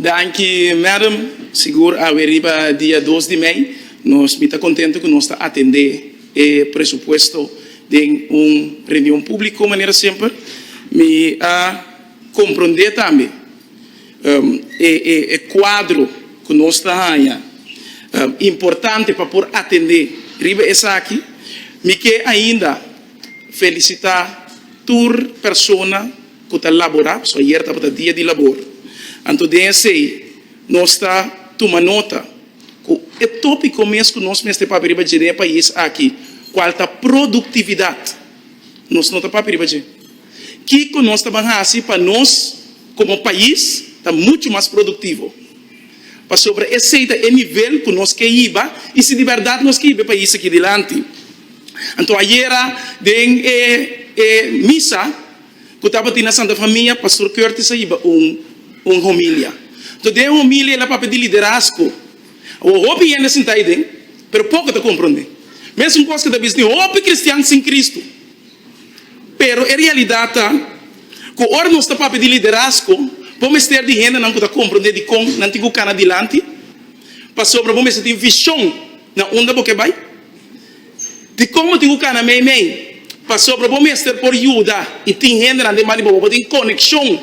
Danki Madam, sigur awe riba dia dos di mei nos mi ta kontentu ku nos ta atendé e presupuesto den un reunion públiko manera semper. Mi a komprondé tambe e kuadro ku nos ta haña importante pa por atendé riba esaki. Mi ke ainda felisitá tur persona. ku ta laborá, so ayer tabata dia di labor, anto den esei nos ta tuma nota ku e tópiko mes ku nos mester papia riba dje den e pais aki, kual ta produktividat, nos no ta papia riba dje. Kiko nos ta ban hasi pa nos komo pais ta muchu mas produktivo? Pasobra esei ta e nivel ku nos ke hiba i si di bèrdat nos ke hiba e pais aki dilanti. Anto ayera den e misa. ku tabatin na Santa Famia, Pastor Curtis a hiba un un homilia. Enton den homilia el a papia di liderazgo. Awo hopi hende a sinta ayi den, pero poko ta komprondé. Mesun kos ke ta bisa tin hopi kristian sin Kristu. Pero e realidat ta ku ora nos ta papia di liderazgo bo mester di hendenan ku ta komprondé dikon nan tin ku kana dilanti, pasobra bo mester tin vishon na unda bo ke bai. Dikon bo tin ku kana meimei? Pasobra bo mester por yuda i tin hendenan den ban di bo pa bo tin konekshon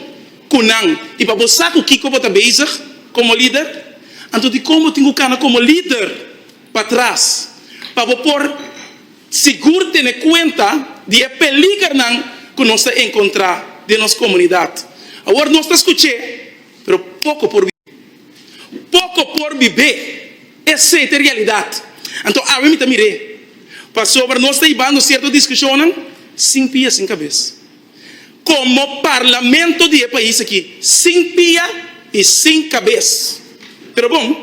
ku nan i pa bo sa ku kiko bo ta bezig komo lider. Anto dikon bo tin ku kana komo lider patras pa bo por sigur tene kuenta di e peligernan ku nos ta enkontrá den nos komunidat? Awor nos ta skuch'é, pero poko por. Poko por bibé. Esei ta e realidat. Anto awe mi ta mir'é. Pasobra nos ta ibando sierto diskushonnan sin pia sin kabes. Komo parlamento di e pais aki, sin pia i sin kabes. Pero bon,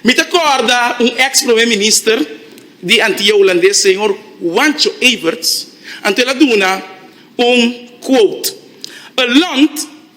mi ta kòrda un eks promé minister di Antia Hulandes, señor Juancho Everts, anto el a duna un quote, A lont,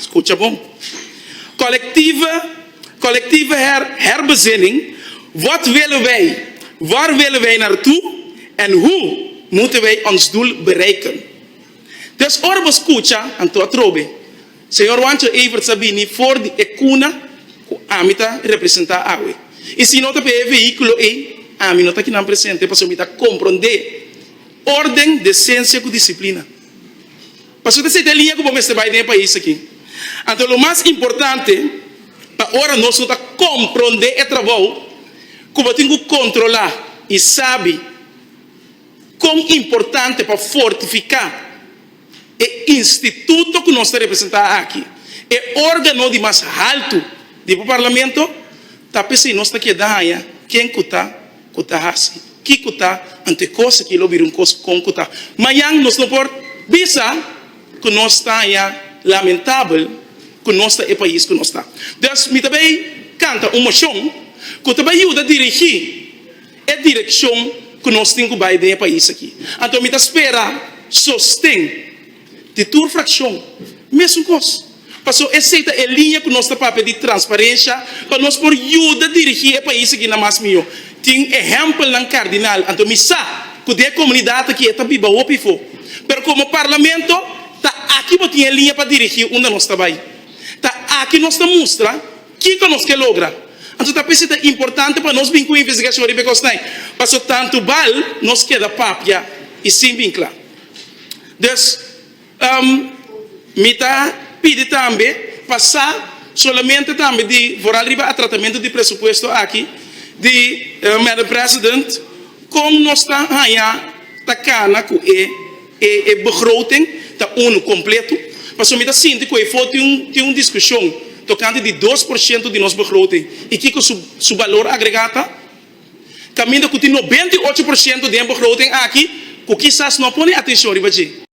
Skucha bon. Kolektiva, kolektiva her, herbezinning, Wat willen wij? Waar willen wij naar toe? En hoe moeten wij ons doel bereiken? Dus ora bo skucha anto atrobe, Señor Juancho Evert sa bini for di e kuna ku ami ta representá awe. I si no ta pa e vehíkulo ei, ami no ta kinan presente pasobra mi ta komprondé órden, desensia ku disiplina. Paso ta sete liña ku bo mester bai den e pais aki. Anto lo mas importante ta ora nos no ta komprondé e trabou ku bo tin ku kontrolá i sabi kon importante pa fortifiká e instituto ku nos ta representá aki, e órgano di mas haltu di Parlamento, ta p'esei nos ta keda haña ken ku ta. ku ta hasi, kiko ta ante kos aki lo bira un kos kon ku ta mayan. Nos no por bisa ku nos ta haña lamentabel ku nos ta e pais ku nos ta. Dòs mi ta bai kanta un moshon ku ta bai yuda dirigí e direkshon ku nos tin ku bai den e pais aki. Anto mi ta spera sosten Di tur frakshon, mesun kos. Pasó esei ta e liña ku nos ta papia di transparensha pa nos por yuda dirigí e pais aki na mas mihó. Tin ehèmpelnan kardinal. Anto mi sa ku den e komunidat aki e ta biba hopi afó. Pero komo parlamento, ta aki bo tin e liña pa dirigí unda nos ta bai. Ta aki nos ta mustra kiko nos ke logra. Anto ta p'esei ta importante pa nos bin ku investigashon riba e kosnan, pasó tantu bal nos keda papia i sin bin kla. Dus mi ta pidi tambe pa sa solamente tambe di foral riba e tratamentu di presupuesto aki di Madam President kon nos ta haña ta kana ku e begroting ta unu, kompletu, pasobra mi ta sinti ku efo tin un diskushon tokante di dos por shento di nos begroting i kiko su balor agregá ta. Caminda cu tin noventa i ocho por ciento di hember groten aki cu kisas no a pone atencion riba dje.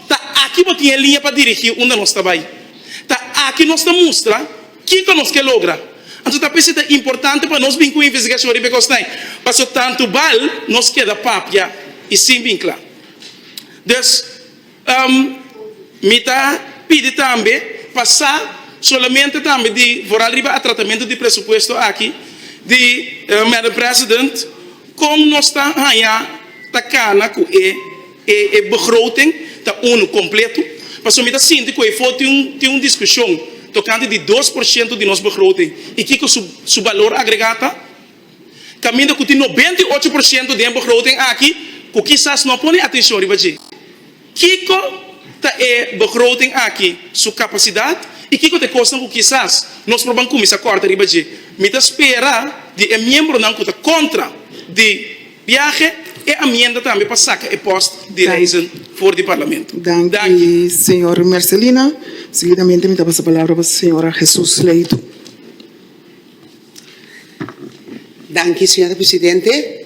Ta aki bo tin e liña pa dirigi unda nos ta bay. Ta aki nos ta mustra kico nos ke logra. Anto ta p'esei ta importante pa nos bin cu investigacion riba e cosnan, pasobra tantu bal nos keda papia y sin vincla. Dus, Mi ta pidi tambe pa sa solamente tambe di voral riba a tratamentu di presupuesto aki di Madam President kon nos ta haña ta kana ku e begroting ta unu, kompletu, pasobra mi ta sinti ku efo tin un diskushon tokante di dos por shento di nos begroting i kiko su balor agregá ta. kaminda ku tin nobenta i ocho por siento den begroting aki ku kisas no a pone atenshon riba dje. Kiko ta e begroting aki su kapasidat i kiko ta e kosnan ku kisas nos por ban kuminsá kòrta riba dje? Mi ta spera di e miembronan ku ta kontra di biahe e amienda tambe pa saka e pòst di Reizen for di Parlamento. Danki, señor Mercelina. Seguidamente mi ta pasa palabra pa señora Jesús Leyton. Danki, señora presidente.